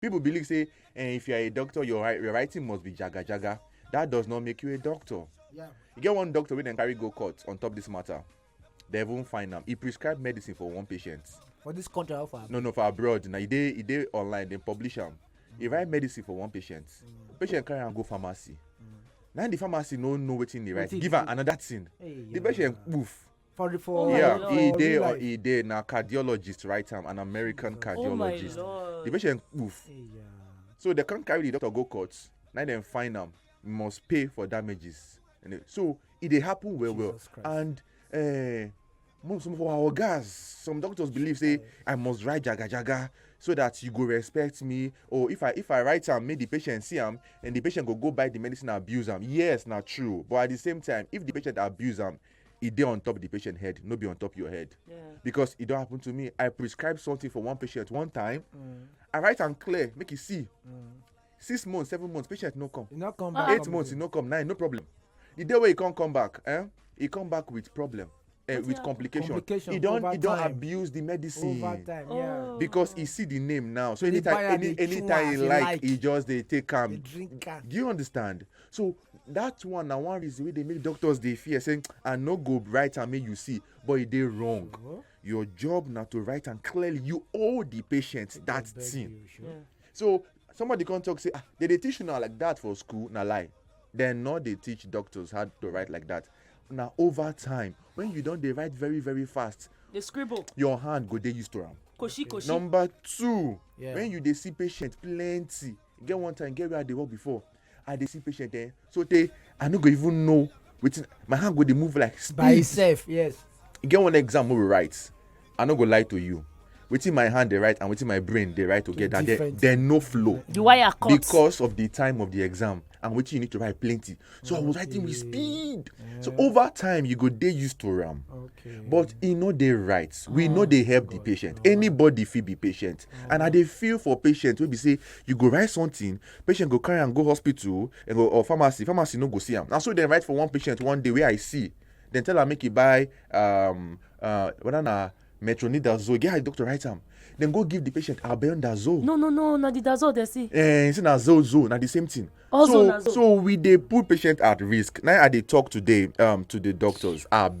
People believe say eh, if you are a doctor, your, wri- your writing must be jaga jaga. That does not make you a doctor. Yeah. You get one doctor wey dem carry go court on top this matter. They even find am. He prescribed medicine for one patient. For this country, how far? No, no, for abroad. Now, e dey e dey online, dem publish am. He write medicine for one patient. Patient carry am go pharmacy. Now the pharmacy no know wetin he write. Wetin Give he am do? another thing. Hey, The yeah. patient poof. for the for oh yeah e dey or e dey na cardiologist right am an american oh cardiologist oh the patient poof hey, yeah. so they come carry the doctor go court na dem find am must pay for damages so e dey happen well well and uh, most of our ogas some doctors believe say i must write jagajaga so that you go respect me or if i if i write am make the patient see am and the patient go go buy the medicine abuse am yes na true but at the same time if the patient abuse am e dey on top the patient head no be on top your head yeah. because e don happen to me i prescribe something for one patient one time mm. i write am clear make e see mm. six months seven months patient no come, no come back. eight months e no come nine no problem the day wey e come come back eh, e come back with problem uh, with complication. complication he don he don abuse the medicine over time, yeah. Oh. because he see the name now so anytime any anytime he like, like he just dey take am do you understand so that one na one reason wey dey make doctors dey fear say i no go write am make you see but e dey wrong sure. your job na to write am clearly you owe the patient that thing you, sure. yeah. so somebody come talk say ah they dey teach una like that for school na lie dem no dey teach doctors how to write like that na over time when you don dey write very very fast dey scribble your hand go dey used to am koshi koshi number two yeah. when you dey see patient plenty get one time get where i dey work before i dey see patient eh so tey i no go even know wetin my hand go dey move like speed by itself yes e get one exam wey we write i no go lie to you wetin my hand dey write and wetin my brain dey write together dey dey no flow the wire cut because of the time of the exam and wetin you need to write plenty so i was writing with speed so over time you go dey used to am but e no dey right we no dey help the patient anybody fit be patient and i dey feel for patient wey be say you go write something patient go carry am go hospital and go or pharmacy pharmacy no go see am na so dem write for one patient one day wey i see dem tell am make e buy um, uh, whether na metronidazole get how the doctor write am dem go give the patient albendazole. no no no na the dazole dem see. Eh, say na zole zole na the same thing. Also so so we dey put patient at risk na i dey talk today um, to the doctors abeg.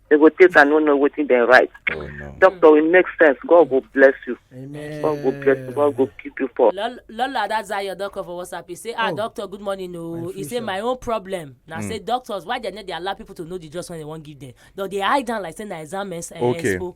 They go take and no know wetin dem write. Oh no. Doctor, it makes sense. God go bless you. Amen. God go bless you. God go keep you for. Lol- Lola, that's how your doctor for WhatsApp. He say, ah, Oh. doctor, good morning. No, My he say future. my own problem. Now say doctors, why they not they allow people to know the just when they won't give them? Though they hide down like say na exam eh, Okay. expo.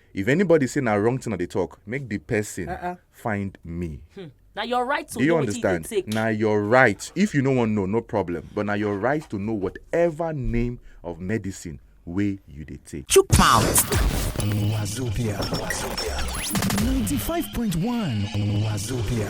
If anybody say na wrong thing I dey talk, make the person uh-uh. find me. Hmm. Now your right to Do you understand? Now your right. If you no one know, no problem. But now your right to know whatever name of medicine way you dey take. Chook mouth. Wazobia. Wazobia. 95.1 Wazobia.